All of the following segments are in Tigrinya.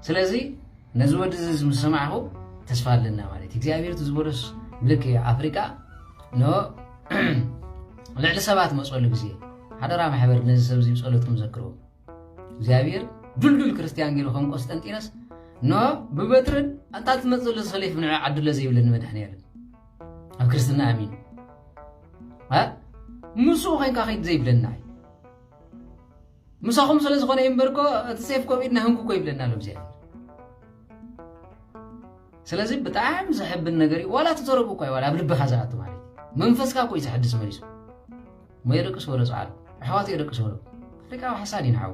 ስለዚ ነዚ ወዲ እዚ ምስ ሰማዕኩ ተስፋ ኣለና ማለት እዩ እግዚኣብሔር እቲ ዝበሎስ ልክ እዩ ኣፍሪቃ ን ልዕሊ ሰባት መፀሉ ግዜ ሓደራ ማሕበር ነዚ ሰብ እዚ ፀሎትኩም ዘክርዎ እግዚኣብሔር ድልዱል ክርስትያን ገይሩ ከም ቆስጠንጢኖስ ን ብበትርን ኣንታ ትመፅ ዘሎ ሰሌፍ ንዕ ዓድሎ ዘይብለ ንመድሕኒ ያለን ኣብ ክርስትና ኣሚኑ ምስኡ ኮንካ ከይድ ዘይብለና እዩ ምሳኹም ስለ ዝኾነ እዩ እምበርኮ እቲ ሴፍ ኮቪድ ናህንኩኮ ይብለና ኣሎ እግዚኣብሔር ስለዚ ብጣዕሚ ዘሕብን ነገር እዩ ዋላ ትተረቡ እኳ ዋላ ኣብ ልብኻ ዝኣቱ ማለት እዩ መንፈስካ እኮ እዩ ዘሕድስ መሊሱ እሞ የደቅስ ወሎ ፀዓሉ ኣሕዋት የደቅስ ወሎ ኣፍሪቃዊ ሓሳድ ይንዓው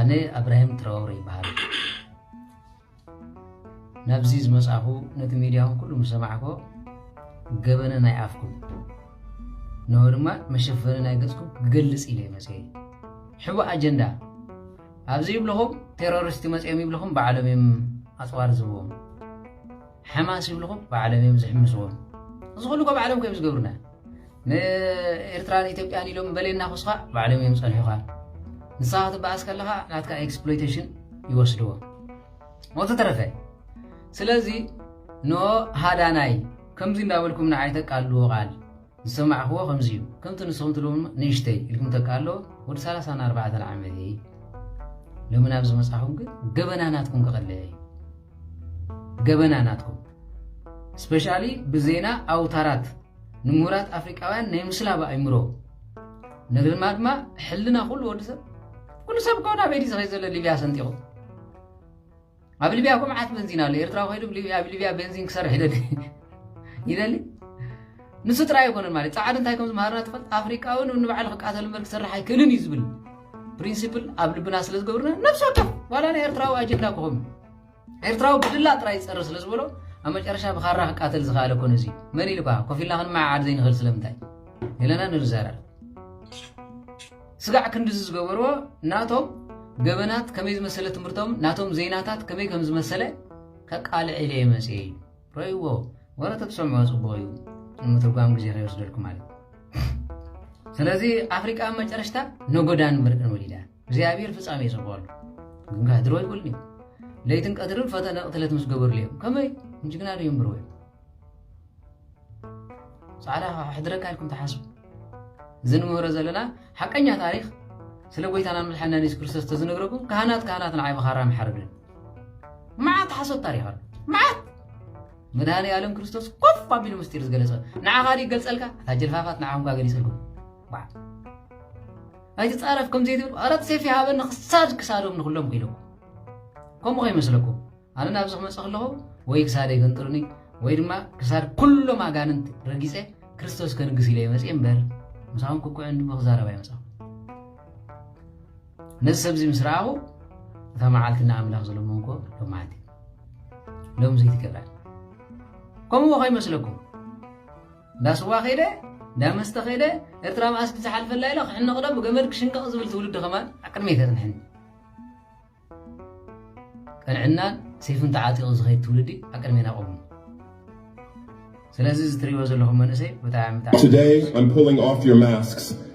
ኣነ ኣብራሂም ትራወረ ይበሃል ናብዚ ዝመጻኹ ነቲ ሚድያኹም ኩሉ ምስ ሰማዕኮ ገበነ ናይ ኣፍኩም ንሆ ድማ መሸፈኒ ናይ ገጽኩም ክገልጽ ኢለ መጽ ሕቡእ ኣጀንዳ ኣብዚ ይብልኹም ቴሮሪስት መጽኦም ይብልኹም ባዕሎም እዮም ኣጽዋር ዝህብዎም ሓማስ ይብልኹም ባዕሎም እዮም ዝሕምስዎም እዚ ኩሉ ኮ ባዕሎም ከዮም ዝገብሩና ንኤርትራን ኢትዮጵያን ኢሎም በሌና ኩስኻ ባዕሎም እዮም ጸንሑኻ ንስኻ ክትበኣስ ከለኻ ናትካ ኤክስፕሎይቴሽን ይወስድዎ ወዘተረፈ ስለዚ ኖ ሃዳናይ ከምዚ እንዳበልኩም ንዓይ ተቃልዎ ቃል ዝሰማዕክዎ ከምዚ እዩ ከምቲ ንስኹም ትልም ንእሽተይ ኢልኩም ተቃሎ ወዲ 34 ዓመት እየ ሎሚ ናብ ዝመጻኹም ግን ገበና ናትኩም ክቐልዕ እዩ ገበና ናትኩም ስፐሻሊ ብዜና ኣውታራት ንምሁራት ኣፍሪቃውያን ናይ ምስላብ ኣእምሮ ንግርማ ድማ ሕልና ኩሉ ወዲ ሰብ ኩሉ ሰብ ከውን ኣበይ ድዩ ዝኸይ ዘሎ ሊብያ ሰንጢቑ ኣብ ሊብያ እኮ መዓት በንዚን ኣሎ ኤርትራ ኮይዱ ኣብ ሊብያ ቤንዚን ክሰርሕ ይደሊ ይደሊ ንሱ ጥራይ ኣይኮነን ማለት ፃዓዱ እንታይ ከም ዝምሃርና ትፈልጥ ኣፍሪቃዊ ንባዕሉ ክቃተል እምበር ክሰርሕ ኣይክእልን እዩ ዝብል ፕሪንሲፕል ኣብ ልብና ስለ ዝገብርና ነብሲ ወከፍ ዋላ ናይ ኤርትራዊ ኣጀንዳ ክኾኑ ኤርትራዊ ብድላ ጥራይ ይጸርፍ ስለ ዝበሎ ኣብ መጨረሻ ብኻራ ክቃተል ዝኸኣለ እኮ ነዚ እዩ። መን ኢሉካ ኮፍ ኢልና ክንመዓዓድ ዘይንኽእል ስለምንታይ ኢለና ንርዘረር። ስጋዕ ክንድዚ ዝገበርዎ ናቶም ገበናት ከመይ ዝመሰለ ትምህርቶም ናቶም ዜናታት ከመይ ከም ዝመሰለ ከቃልዕ ኢለ እየ መጽየ እዩ ረእይዎ ወረ ተትሰምዖ ጽቡቕ እዩ ንምትርጓም ግዜ ከይወስደልኩም ማለት ስለዚ ኣፍሪቃ ኣብ መጨረሽታ ነጎዳን ምርቅን ወሊዳ እግዚኣብሔር ፍጻሜ ይሰብዋሉ ግንካ ህድሮ ይብልን እዩ ለይትን ቀትርን ፈተነ ቅትለት ምስ ገበርሉ እዮም ከመይ እንጅግና ዶ የንብርዎ እዮም ጻዕዳ ሕድረካ ኢልኩም ተሓስቡ እዚ ንምህሮ ዘለና ሓቀኛ ታሪክ ስለ ጎይታና ምድሓና ንስ ክርስቶስ ተዝነግረኩም ካህናት ካህናት ንዓይ መኻራ ምሓርግን መዓት ሓሶት ታሪክ ኣሎ መዓት መድሃኒ ኣለም ክርስቶስ ኮፍ ኣቢሉ ምስጢር ዝገለጸ ንዓኻ ዲ ይገልጸልካ እታ ጀልፋፋት ንዓኹም ጋ ገሊጸልኩም ኣይትጻረፍ ከምዚ ትብል ኣረት ሴፍ ይሃበኒ ክሳድ ክሳዶም ንኩሎም ኮይኖም ከምኡ ከይመስለኩም ኣነ ናብዚ ክመጽ ከለኹ ወይ ክሳደ ይገንጥሉኒ ወይ ድማ ክሳድ ኩሎም ኣጋንንት ረጊጸ ክርስቶስ ከንግስ ኢለ መጽ እምበር ምሳኹም ክኩዕ እንዲ ክዛረብ ኣይመጽኹ ነዚ ሰብዚ ምስ ረኣኹ እታ መዓልቲ ንኣምላኽ ዝለመንኮ ሎም መዓልቲ ሎም ዘይትገብራ ከምኡ ከይመስለኩም እንዳ ስዋ ከይደ እንዳ መስተ ከይደ ኤርትራ መኣስ ብዝሓልፈላ ኢለ ክሕነቕዶ ብገመድ ክሽንቀቕ ዝብል ትውልዲ ከማን ኣብ ቅድመይ ተጽንሐኒ ቅንዕናን ሰይፍን ተዓጢቑ ዝኸይድ ትውልዲ ኣብ ቅድሜና ቆሙ ስለዚ እዚ ትሪእዎ ዘለኹም መንእሰይ ብጣዕሚ ብጣዕሚ Today I'm pulling off your masks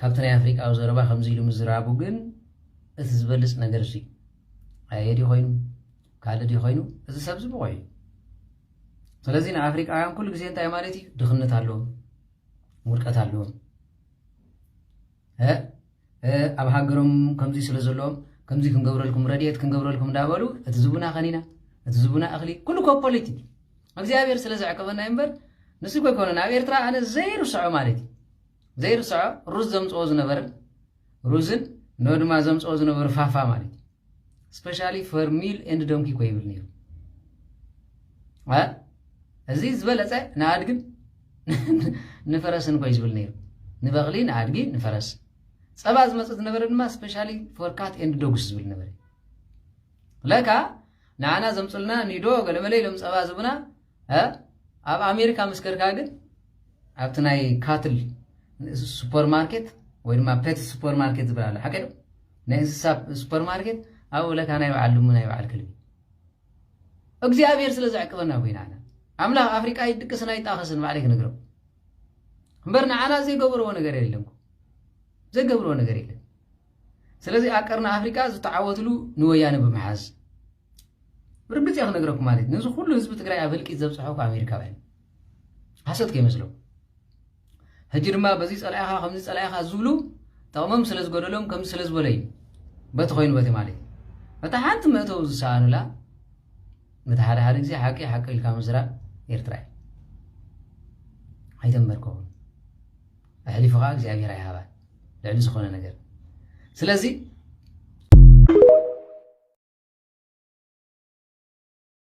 ካብቲ ናይ ኣፍሪቃዊ ዘረባ ከምዚ ኢሉ ምዝራቡ ግን እቲ ዝበልጽ ነገር እሱ'ዩ። ኣየ ድዩ ኮይኑ? ካልእ ድዩ ኮይኑ? እዚ ሰብዚ ብቑዕ እዩ። ስለዚ ንኣፍሪቃውያን ኩሉ ግዜ እንታይ ማለት እዩ? ድኽነት ኣለዎም፣ ውድቀት ኣለዎም። ኣብ ሃገሮም ከምዚ ስለ ዘለዎም ከምዚ ክንገብረልኩም ረድኤት ክንገብረልኩም እንዳበሉ እቲ ዝቡና ከኒና እቲ ዝቡና እኽሊ ኩሉ ኮ ፖለቲክ እግዚኣብሔር ስለ ዘዕቀበና እምበር ንሱ ኮ ይኮነን ኣብ ኤርትራ ኣነ ዘይርስዖ ማለት እዩ ዘይርስዖ ሩዝ ዘምጽኦ ዝነበረ ሩዝን ን ድማ ዘምጽኦ ዝነበሩ ፋፋ ማለት እዩ ስፔሻሊ ፈር ሚል ኤንድ ዶንኪ ኮ ይብል ነይሩ እዚ ዝበለጸ ንኣድግን ንፈረስን ኮይ ዝብል ነይሩ ንበቕሊ ንኣድጊ ንፈረስ ጸባ ዝመጽእ ዝነበረ ድማ ስፔሻሊ ፎር ካት ኤንድ ዶግስ ዝብል ነበረ ለካ ንዓና ዘምፅልና ኒዶ ገለመለ ኢሎም ጸባ ዝብና እ ኣብ ኣሜሪካ ምስ ከድካ ግን ኣብቲ ናይ ካትል ሱፐር ማርኬት ወይ ድማ ፔት ሱፐር ማርኬት ዝብል ኣሎ ሓቂ ዶ ናይ እንስሳ ሱፐር ማርኬት ኣብኡ ለካ ናይ በዓል ድሙ ናይ በዓል ክልቢ እግዚኣብሔር ስለ ዘዕቅበና ኮይና ኢና ኣምላኽ ኣፍሪቃ ይድቅስን ኣይጣኸስን ባዕለይ ክንግረው እምበር ንዓና ዘይገበርዎ ነገር የለንኩ ዘይገብርዎ ነገር የለን ስለዚ ኣብ ቀርኒ ኣፍሪቃ ዝተዓወትሉ ንወያነ ብምሓዝ ብርግጽ እየ ክነግረኩም ማለት እዩ ነዚ ኩሉ ህዝቢ ትግራይ ኣብ ህልቂት ዘብጽሖ እኳ ኣሜሪካውያን ሓሶት ከይመስሎም ሕጂ ድማ በዚ ጸላኢኻ ከምዚ ጸላኢኻ ዝብሉ ጠቕሞም ስለ ዝገደሎም ከምዚ ስለ ዝበለ እዩ በቲ ኮይኑ በቲ ማለት እዩ በታ ሓንቲ መእተው ዝሰኣኑላ በቲ ሓደ ሓደ ግዜ ሓቂ ሓቂ ኢልካ ምስራብ ኤርትራ እዩ ኣይተንበርከኹም ኣሕሊፉ ከዓ እግዚኣብሔር ኣይሃባን ልዕሊ ዝኾነ ነገር ስለዚ